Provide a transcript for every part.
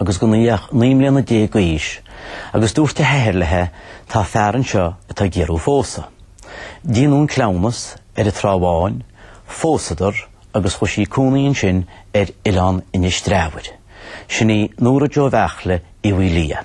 agus gan í naoi mbliana déag d'aois agus dúirt a hathair leithe tá fear anseo atá ag iarraidh thú a phósadh. Déanadh an cleamhnas ar an Trá Bháin, phósadar agus chuaigh sí ina cónaí ansin ar Oileán Inis Treabhair. Sin í Nóra Joe Bheartla Uí Mhaoilia.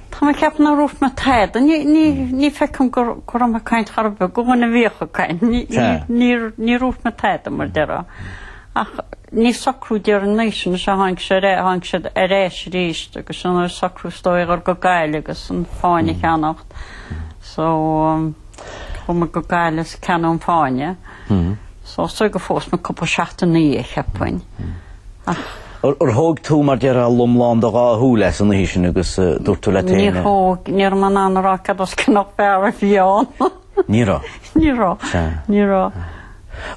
Tá mé ag ceapadh nár dhúirt mé tada. Ní fheicim go raibh mé ag caint chor ar bith, go bhfuil na bhfiacha caint. Níor dhúirt mé tada, mar a déarfá. Ach níor socraíodh, déarfainn, é sin, tháinig sé tháinig sé ar ais arís agus socraíodh is dóigh a dhul go Gaillimh agus an fáinne a cheannacht. So. Chuaigh muid go Gaillimh is ceannaíodh an fáinne so is dóigh gur phós muid cúpla seachtain ina dhiaidh cheapfainn ach. Ar thóg tú mar a déarfá lomlán do dhá shúil as an oíche sin agus dúirt tú leat féin. Níor thóg, ní raibh mé in ann a rá cad as cionn nach fear a bhí ann. Ní raibh? Ní raibh, ní raibh.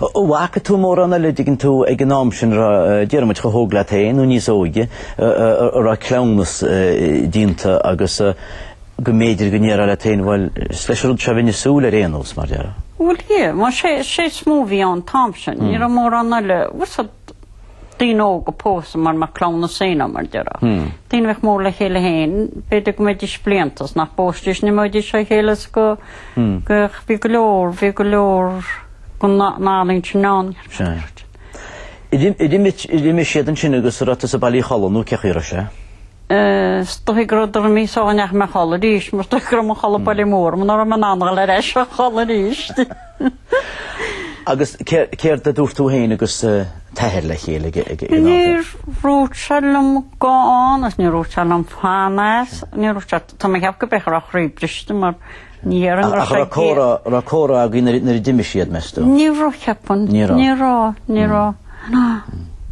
An bhfaca tú mórán eile an dtuigeann tú ag an am sin déarfaidh muid chomh hóg leat féin nó níos óige, a raibh cleamhnas déanta agus go mb'fhéidir go ndéarfá leat féin, bhuel, is leis an rud seo a bheinn ag súil ar aon nós, mar a déarfá? Bhuel, yeah, mar sé, sé is mó a bhí ann an t-am sin, ní raibh mórán eile, daoine óga ag pósadh mar mar cleamhnas a bhí ann mar a déarfá. Daoine a bheadh mór le chéile féin, b'fhéidir go mbeidís blianta is nach bpósfaidís ní bheidís le chéile is go, go, bhí go leor, bhí go leor den ealaín sin ann. Sin. D'imigh siad ansin agus an raibh tusa bailithe a chodladh nó cén chaoi a raibh sé? Is dóigh go raibh deireadh míosa sula ndeachaigh mé a chodladh arís, mar is dóigh go raibh mo chodladh bailithe mar, mar ní raibh mé in ann a dhul ar ais a chodladh arís. Agus céard a dúirt tú féin agus t'athair le chéile? Níor dhúirt sé liom gabh ann agus níor dhúirt sé liom fan as, níor dhúirt sé, tá mé ag ceapadh go mb'fhéidir go raibh a chroí briste mar ní ar an ngra sé An raibh comhrá agaibh nuair a d'imigh siad, meas tú? Ní raibh, cheapfainn. Ní raibh. Ní raibh, ní raibh, ná,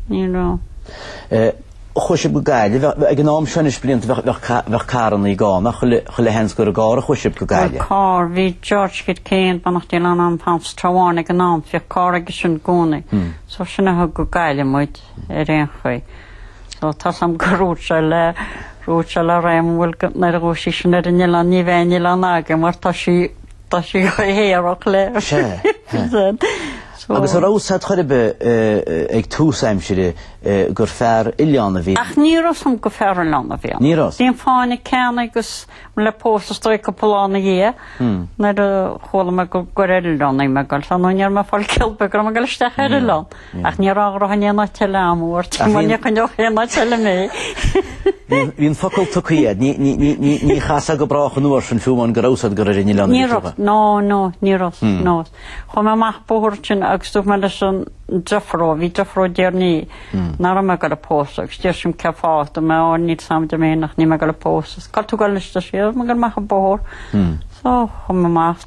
ní raibh. Chuaigh sibh go Gaillimh. Ag an am seo anois blianta bheadh carranna gann ach chuile sheans gur i gcarr a chuaigh sibh go Gaillimh. Bhuel carr, bhí George Kid Kane, beannacht Dé lena anam, sa Trá Bháin ag an am, bhíodh carr aige sin i gcónaí. So sin a thug go Gaillimh muid ar aon chaoi. So tá a fhios agam gur dhúirt sé le, dúirt sé le Raymond, bhuel, nuair a ghabhfas sí sin ar an oileán ní bheidh aon oileán agat mar tá sí Tá sé go haerach leis. Agus an raibh a fhios agat chor ar bith ag tús aimsire gur fear oileáin a bhí ann? Ach ní raibh a fhios agam gur fear oileáin a bhí ann. Ní raibh. Bhí an fáinne ceannaithe agus bhí le pósadh is dóigh cúpla lá ina dhiaidh nuair a chuala mé go gur ar oileán a bhí mé ag goil. So ní raibh mé ag fáil cill beag go raibh mé ag dul isteach ar oileán. Ach ní raibh grá in aon áit eile agam dhuit Ach bhíonn. ní choinneodh aon áit eile mé. Bhí an focal tugtha a'd. Ní, ní, ní, ní, ní chasfadh go brách an uair sin fiú amháin go raibh a fhios a'd gur ar an oileán a Ní bhí raibh, tugtha. no, no, ní raibh, no. Chuaigh mé amach an bóthar sin agus dúirt mé leis an driofúr, bhí driofúr Dhéarnaí, Nach raibh mé ag dul á phósadh agus dúirt sí liom Cén fáth? Dúirt mé, Ó, níl a fhios a'm adeir mé ach níl mé ag dul á phósadh. Cá bhfuil tú ag dul anois? Deir sé, Ó, tá mé ag dul amach an bóthar. So, chuaigh mé amach.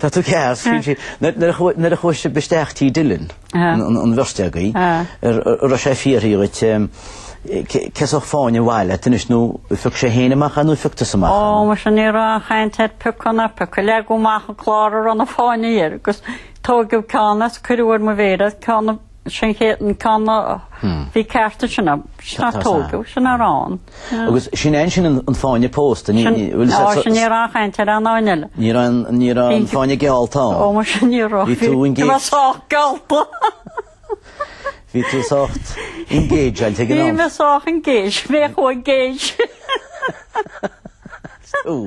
Tá tú ceart, scríobh sí, nuair a chuaigh sibh isteach Tí Dillon, an bheirt agaibh, raibh sé ag fiafraí dhíot cén sórt fáinne ab áil leat anois, nó phioc sé fhéin amach é nó phioc tusa amach é? Ó, muise ní raibh aon chaint ar piocadh, pioc, leagadh amach an clár a raibh na fáinní air, agus tógadh ceann as, cuireadh ar mo mhéar ceann a. Sin an chéad cheann a bhí ceart sin é sin é a tógadh sin a raibh ann. Agus sin an sin an fáinne pósta a bhfuil sé Muise ní raibh caint ar aon cheann eile. Ní raibh aon ní raibh aon fháinne geallta ann. Ó muise ní raibh. Bhí tú engaged. Bhí mé sách geallta. Bhí tú sách engaged ag an am. Bhí mé sách engaged. Bhí mé chomh engaged. Tú.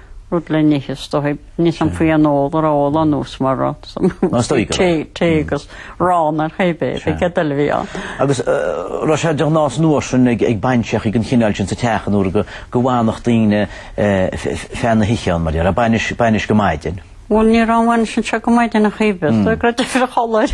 rud le n-ithe is dóigh, níl a fhios a'm faoi an ól a raibh ól ann an uair sin mórán, tae agus arán ar chaoi ar bith, bhí geideal a bhí ann. Agus raibh sé de ghnáth an uair sin ag bainseachaí den chineál sin sa teach an uair go bhfanfadh daoine ar feadh na hoíche ann mar a déarfá, bainis go maidin. Bhuel, ní raibh an bhainis anseo go maidin ar chaoi ar bith, creidim, ar a chodladh.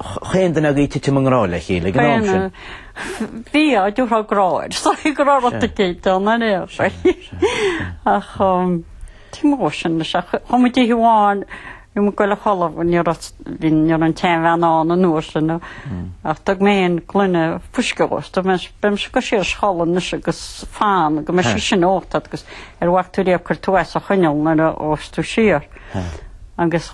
Chaon duine agaibh tite i ngrá le chéile ag an am sin? Bhí, dá dtiúrfá grá air. Sorry go raibh rud aici ann an aosaigh. Ach cén mhaith sin leis ach chuaigh muid oíche amháin i ngaireacht Choilm níor fhás, bhí an tseanbhean ann an uair sin ach thug mé féin gloine fuisce dhó agus dúirt sé beidh mise ag cur siar sa cholainn anois agus fan go mbeidh sí sin ionat agus níor mhaith tú riamh cur tú suas a choinneáil nuair a phós tú siar. Agus.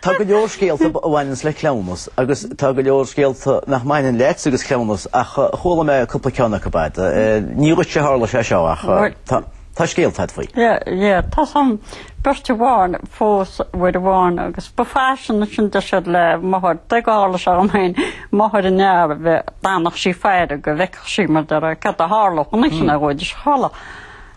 Tá go leor scéalta a bhaineanns le cleamhnas agus tá go leor scéalta nach mbaineann leat agus cleamhnas ach chuala mé cúpla ceann acu uait. Ní dhuit sé tharla sé seo ach tá scéalta a'd faoi. Ie, ie, tá, bhí beirt amháin a phós, uair amháin agus ba faisean sin deir siad le máthair dá dtarlódh sé dhom féin, máthair an fhear a bheith d'fhanfadh sí ag faire go bhfeicfeadh sí mar a déarfá, cad a tharlódh anois ina dhóigh de shála.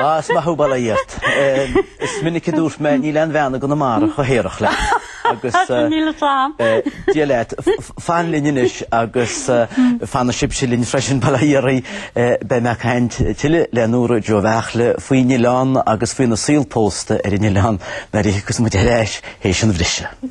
Ah, is maith thú bail ó Dhia ort. Is minic a dúirt mé níl aon bhean i gConamara chomh haerach leat agus eh, Tá míle slan. eh, Dia leat, f- f- fan linn anois agus eh, fanaigí sibhse linn freisin bail ó Dhia oraibh. Eh, Beidh mé ag caint tuille le Nóra Joe Bheachle faoin oileán agus faoina saol pósta ar an oileán nuair a thiocfas muid ar ais tar éis an bhriseadh.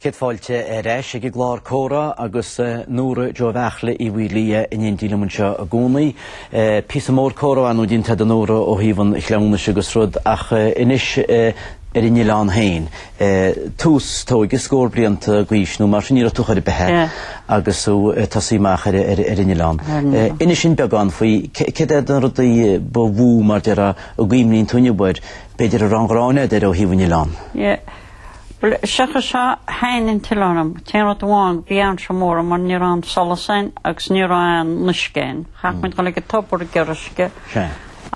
Céad fáilte ar ais ag an gclár comhrá agus Nóra Joe Bheairtle Uí Mhaoilia in éindí liom anseo i gcónaí. Píosa mór comhrá ar ndóigh déanta agat a Nóra ó thaobh an chleamhnais agus rud ach anois ar an oileán féin. tús tóige scór blianta d'aois nó mar sin ní raibh tú chor ar bith agus tú ag tosaí amach ar an oileán. Inis dúinn beagán faoi céard é na rudaí ba mhó mar a déarfá a gcuimhníonn tú inniu air, b'fhéidir a raibh an ghráin agat air ó thaobh an oileán. Yeah. Bhuel, sé an chaoi, thaitin an t-oileán liom. An t-aon rud amháin, bhí ansó mór mar ní raibh aon solas ann agus ní raibh aon uisce ann. Chaitheadh muid dul ag an tobar ag iarraidh uisce.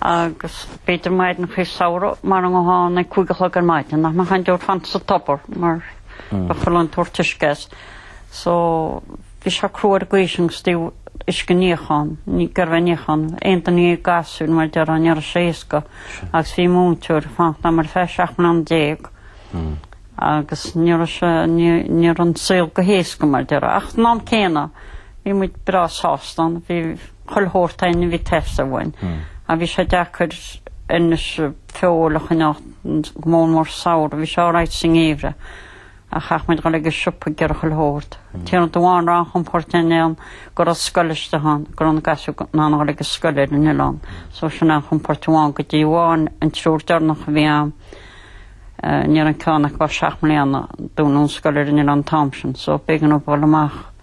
agus b'fhéidir maidineachaí samhraidh mara ngabhfá ann ag cúig a chlog ar maidin nach mbeadh aon deoir fanta sa tobar mar bheadh a lán ag tabhairt uisce as. So bhí sé crua ar an gcaoi sin ó thaobh uisce níocháin, ag iarraidh a bheith ag níochán, aon duine dhéag gasúr mar a déarfá ní raibh sé éasca agus bhí múinteoir ag fanacht agam ar feadh seacht mbliana déag agus ní raibh sé, ní, ní raibh an saol go héasca mar a déarfá. Ach an am céanna bhí muid breá sásta ann, bhí, chuile shórt againn a bhí ag teastáil uainn ach bhí sé deacair anois feoil a choinneáil go mór mór sa samhradh. Bhí sé alright sa ngeimhreadh ach chaitheadh muid dhul ag an siopa ag iarraidh chuile shórt. An t-aon rud amháin a raibh aon chompóirt ar an oileán go raibh scoil istigh ann, go raibh na gasúir in ann dhul ag an scoil ar an oileán. So sin aon chompóirt amháin go dtí amháin an triúr deireanach a bhí ann ní raibh ceann acu ach seacht mbliana dúnadh an scoil ar an oileán an t-am sin. So b'éigean dóibh dhul amach.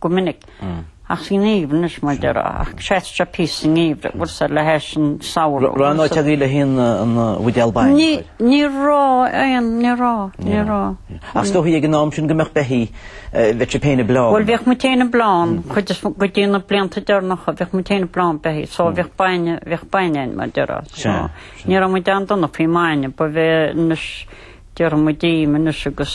go minic ach sa ngeimhreadh, anois mar a déarfá ach sheasfadh sé píosa sa ngeimhreadh a bhfuil sé le hais an tsamhraidh. Raibh aon áit agaibh le haghaidh an bhuidéal bainne a chur? Ní raibh aon, ní raibh, ní raibh. Ach is dóichí ag an am sin go mbeadh beithígh, bheadh sibh féin ag bleán. Bhuel bheadh muid féin ag bleán, cuid is mó, go dtí na blianta deireanacha bheadh muid féin ag bleán beithígh so bheadh bainne, bheadh bainne againn mar a déarfá so ní raibh muid an-dona faoin mbainne ba bheith anois, déarfaidh muid im anois agus,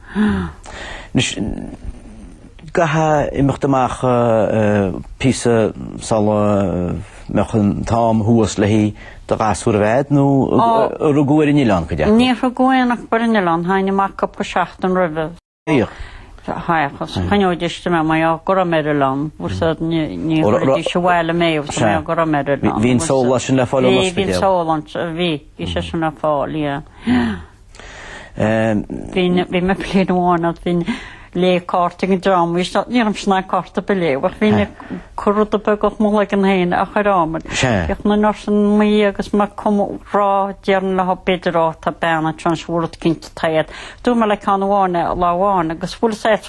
Anois, an gcaithfeá imeacht amach píosa sala mbeadh an t-am thuas le haghaidh do ghasúr a bheith, nó ar rugadh ar an oileán cuid acu? Níor rugadh aon acu ar an oileán, théinn amach cúpla seachtain roimhe. Théadh? Théadh, is choinneoidís istigh mé, mar gheall go raibh mé ar oileán, bhfuil a fhios agat, ní chuirfidís abhaile mé mar gheall go raibh mé ar oileán. Bhí an só sin le fáil san ospidéal. Bhí, bhí an só ann, bhí, bhí sé sin le fáil, yeah. Bhí mé bliain amháin agus bhínn ag léamh cártaí ag an dream seo, ní raibh mise in ann cárta ar bith a léamh ach bhí mé ag cur rudaí beaga as mo chloigeann féin a chuir am air. Bhíodh na nurse an-mhaith agus mé ag comhrá deirinn leo b'fhéidir ó tá bean anseo anois bhfuair rud cinnte tá iad. Dúirt mé le ceann amháin lá amháin agus bhfuil saghas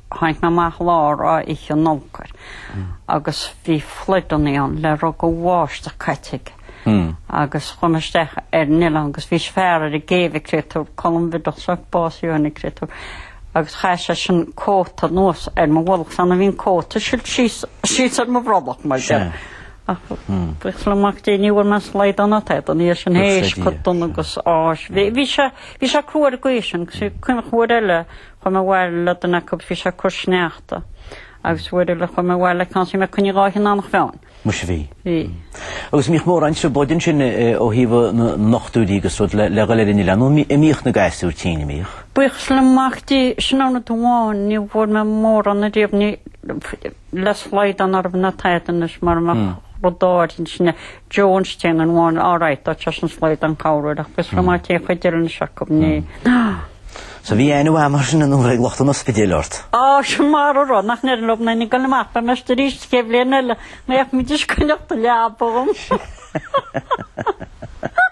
tháinig mé amach lá Oíche Nollag agus bhí flood-anna ann le raibh de bháisteach caite aige agus chuir mé isteach ar an oileán agus bhí fear ar an gcéibh an créatúr, Colm Bhideach sa bás inniu an créatúr, agus chaith seisean cóta anuas ar mo bholg sula mbíonn an cóta silt síos ar mo bhrollach mar déarfá. Ach buíochas le Mac Dé ní bhfuair mé slaghdán ada dá ina dhiaidh sin théis chomh dona agus a bhí. Bhí sé crua ar an gcaoi sin, cuimhním uair eile chuaigh mé abhaile le duine acu bhí sé ag cur sneachta agus uair eile chuaigh mé abhaile le ceann sin i gcoinne dhá thine an chrainn. Muis a bhí. Bhí. Agus mbíodh mórán aimsir bádóireacht ansin ó thaobh na ndochtúirí agus rud le le dhul ar an oileán ann nó a mbíodh na gasúir tinn a mbíodh. Buíochas le mac Dé sin aon rud amháin ní bhfuair mé mórán ariamh níl ach slaghdán orthu nó tada anois mar mar rudaí den sin é. Jones téann an bháin á reiteáilt as an slóigh don chabhrú ach fios liom má téann chuid deireanais acu mné. So bhí aithne uaim mar sin nuair a ag lucht an ospidéil ort? Á, sin mar a raibh, nach ndeir liom nainne go le mbeadh mé ar ais arís sa chéad bhliain eile, go bhféadfaidís coinneáil an leaba dhom.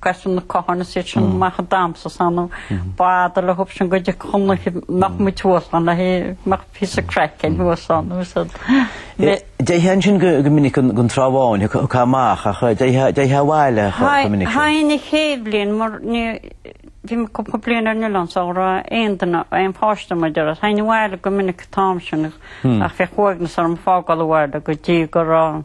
Casann na cothroime siad sin amach ag damhsa ansin nó b'fhéidir le hop ansin go dtí Conlucid nach mbeadh tú thuas ann le go mbeadh píosa craic air thuas ann nó is é. Dtéiteá ansin go minic go Trá Bháin chucu amach nó dtéiteá abhaile chomh minic sin. Théinn an chéad bhliain mar bhí mé cúpla bliain ar an oileán sula raibh aon duine aon pháiste againn théinn abhaile go minic an t-am sin ach bhíodh uaigneas orm ag fágáil an bhaile go dtí go raibh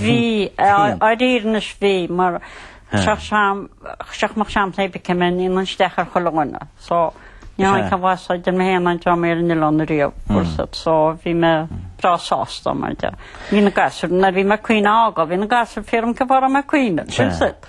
Bhí, á dtír anois bhí, mar seach seam, seach mo sheam tae b'aici mé, níl an steach ar chuile dhuine, so ní hamháin ceann mhaith so d'fhill mé féin an dream ar an oileán ariamh, fhursat, so bhí mé breá sásta, mar de, bhí na gasúir, nuair bhí McQueen á fhágáil, bhí na gasúir fíor ioncaim fá raibh McQueen, fhursat.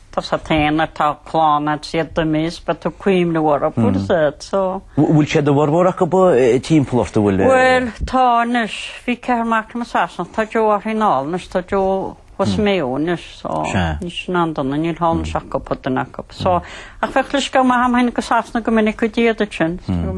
Tá a fhios ag éinne a bhfuil clann a'd siad do miss beidh tú ag cuimhneamh orthu ar bord so. Bhfuil siad a bhformhór acu timpeall ort a bhfuil. Bhuel tá anois bhí ceathrar mac liom i Sasana tá Joe ar thíocht anall anois tá Joe abhus i Maigh Eo anois so níl ansin aon duine níl thall anois ach cuid acu so ach bhíodh leithscéal maith agam théinn go Sasana go minic go dtí iad ansin so